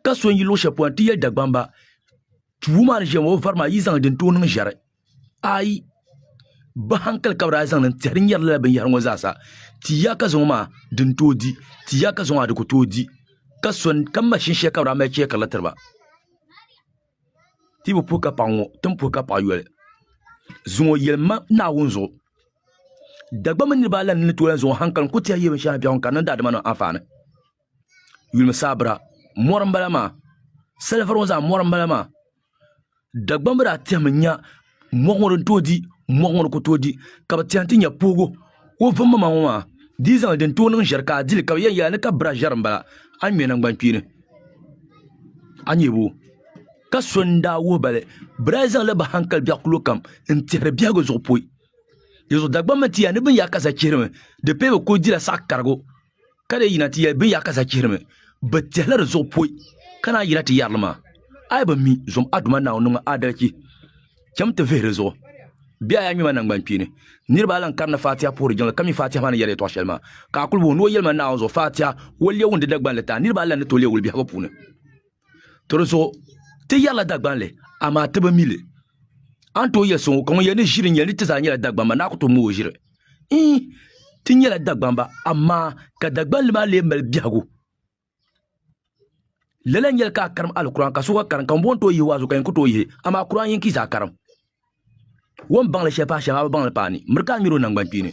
ka so n yi luɣu shɛli polo ti yɛli dagbamba tubu maa ni ʒiya ŋɔ o vari maa yi zaŋ din tooi niŋ ʒɛri ayi bi hankali ka bi daa zaŋ niŋ tiɛhi di nyɛri lala binyahari ŋɔ zaasa ti ya ka zaŋɔ maa din tooi di ti ya ka zaŋɔ maa di ku tooi di ka so ka mashin shɛli ka bi daa mali chɛkirila tiriba ti bi puhi ka paɣa ŋɔ tin puhi ka paɣa yoli zuŋɔ yɛli ma naawuni zuɣu dagba mini niraba ala ni ni tooi zaŋɔ hankali n ku tiɛhi yɛ binshɛŋa biɛɣu n ka niŋ daadama nim anfaani yulim sabira mori n bala maa salifɛri ŋɔ zaa mori n bala maa Dagbaŋ maa zaa tɛmi nya moɣu ŋɔ din tooi di moɣu ŋɔ ni ku tooi di ka bi tiɛhi n ti nya poogo o vummaŋ ŋɔ maa di yi zaŋli din tooi niŋ ʒɛri ka a dili ka bi yɛn yɛli a ni ka bira ʒɛri n bala a ŋmɛ nangbani kpeeni a nyɛbu ka so n daa wuhi ba li bira yi zaŋli bi hankali biɛɣu kulo kam n tihiri biɛhagu zuɣu poi dinzuɣu Dagbaŋ mii ti yɛli ni bin yaa ka za chihirimi di pii bi ku dila saɣa karigu ka dee yina ti yɛli bin yaa ka za chihirimi bi tɛhila di zuɣu poi ka naan yina ti yɛrili maa a yi bi mi zom a Duuma Naawuni niŋmi aadalichi chɛm ti vihi di zuɣu bɛ a yaa ŋmɛma naŋgbankpeeni niriba a lan karindi Faatiha puhiri jiŋli ka mi Faatiha maa ni yɛri yɛtɔɣ shɛli maa ka a kuli wuhi ni o yɛlima Naawuni zuɣu Faatiha o lɛwundi Dagbanli taa niriba a lan ni tooi leei wuli biɛhigu puuni To di zuɣu ti yɛrila Dagbanli, amaa ti bi mi li. A ni tooi yɛli so ŋɔ, ka ŋun yɛli ni ʒiri n-nyɛ li, ti zaa nyɛla Dagbamba, ni a ku tooi mi o ʒiri? Ii! Ti nyɛla Dagbamba, amaa ka Dagbanli maa lee mali biɛhigu. Lala n-nyɛli ka a karim Alkur'aan, ka sokɔŋ karim, ka ŋun bɔŋɔ tooi yihi o a zuɣu, ka yin ku tooi yihi, amaa Kur'aan yinki yi zaa karim. O ni baŋ li shɛli paai shɛm, a bi baŋ li paani, miri ka a ŋmɛri o naŋgbankpeeni.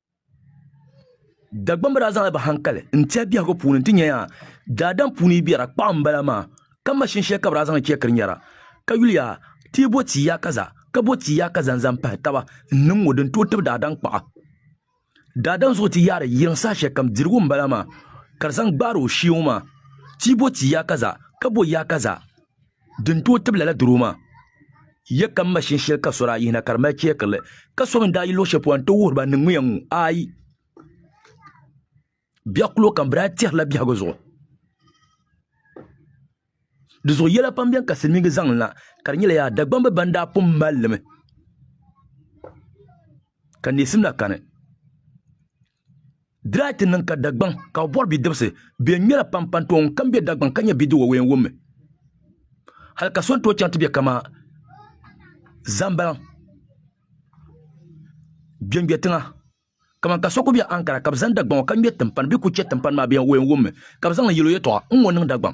Dagbamba daa zaŋla bɛ hankali n-tɛhi biɛhigu puuni nti nya yaa daadam puuni yi biɛra kpaɣu m-bala maa, ka maʒini shɛli ka bɛ daa zaŋ chɛ kirinyara ka yuli yaa ti yi bo ti ya kaza ka bo ti ya kaza n-zaŋ pahi taba n-niŋ ŋɔ di n-tooi tibi daadam kpaɣu. Daadam zuɣu ti yaari yiŋ saha shɛlikam dirigu m-bala maa ka di zaŋ gbaari o shee ŋɔ maa, ti yi bo ti ya kaza ka bo ya kaza. Din tooi tibi lala doro maa, ya ka m ma shini shɛli ka sɔri a yihina ka di mali chɛɛkirili, ka so mi ni daa yi luɣ shɛli polo nti wuhiri ba niŋmiya ŋ-ŋɔ. Aai! Biɛɣ kul o kam bɛ daa tɛhirila biɛhigu zuɣu. Di zuɣu yɛla pam beni ka Silimiiŋga zaŋ n-la, ka di nyɛla yaa Dagbamba bɛn daa pun mali li mi ka neesim na kani. Diraati niŋ ka Dagbaŋ ka o bɔri bidibisi bɛn ŋmɛra pam pa n-tooi ŋun kam be Dagbaŋ ka nyɛ bidiwa wee n-wummi hali ka so ni tooi chaŋ ti be kamaa Zambalaŋ Gbengbɛ tiŋa kaman ka so ku be Ankara ka bɛ zaŋ Dagbaŋ ŋɔ ka ŋmɛ timpani bee ku chɛ timpani maa bɛn wee n-wummi ka bɛ zaŋ li yɛl o yɛtɔɣa n-ŋɔ niŋ Dagbaŋ.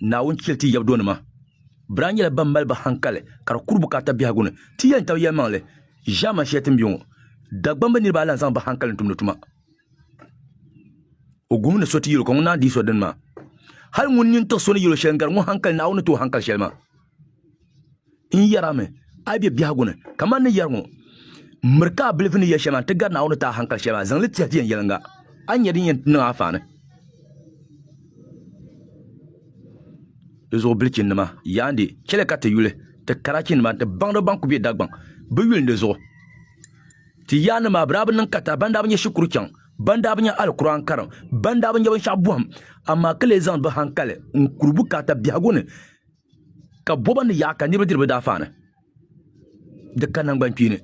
Naawuni chɛli ti yɛbudonima. Biran nyɛla bɛn mali bɛ haŋkali ka di kuri bukaata biɛhigu ni. Ti yɛli n-tab yɛlimaŋli ʒiɛmani shɛli ti ni be ŋɔ, Dagbamba niriba ayi lan zaŋ bɛ haŋkali n-tumdi tuma. O guhimi ni so ti yɛl o ka ŋun naan dihi so dini maa. Hal ŋun nini tiɣi so ni yɛl o shɛli n-gari ŋun haŋkali Naawuni ni ti o haŋkali shɛli maa. n yɛrami a yi be biɛhigu ni, kaman ni yɛri ŋɔ, M miri ka a bilifu ni yɛ shɛli maa nti gari Naawuni ni ti a haŋkali shɛli maa, zaŋ li tɛhi viɛnyɛliŋga, a ni nya din yɛn niŋ a faani. Di zuɣu bilichinnima, yaandi, chɛli ka ti yuli ti karachinima nti baŋda ban kul be Dagbaŋ, bɛ yuli ni di zuɣu. Ti yaandi maa, bɛ daa bi niŋ kata ban daa bi nya shikuru chaŋ, ban daa bi nya Alkur'aani karim, ban daa bi nya binshɛɣu bɔhim, amaa ka lee zaŋdi bɛ haŋkali n-kuri bukaata biɛhigu ni, ka boba ni yaɣa ka niraba diri bi daafaani di ka nangbani kpeeni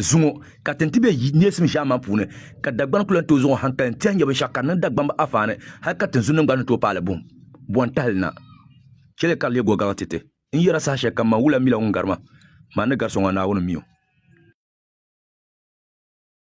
zuŋo ka tin ti bɛ neesim ʒiɛhi maa puuni ka dagbani kula tooi zuŋo hankali n tiɛhi nyɛ binshaɣu ka niŋ dagbamb afaani hali ka tinzu niŋgba ni tooi paali buɣum bɔn tahali na chɛli ka di lee gogaɣi titi n yɛra saha shɛli kam man wula mila ŋun gari ma maa ni gari so ŋɔ naawuni mi o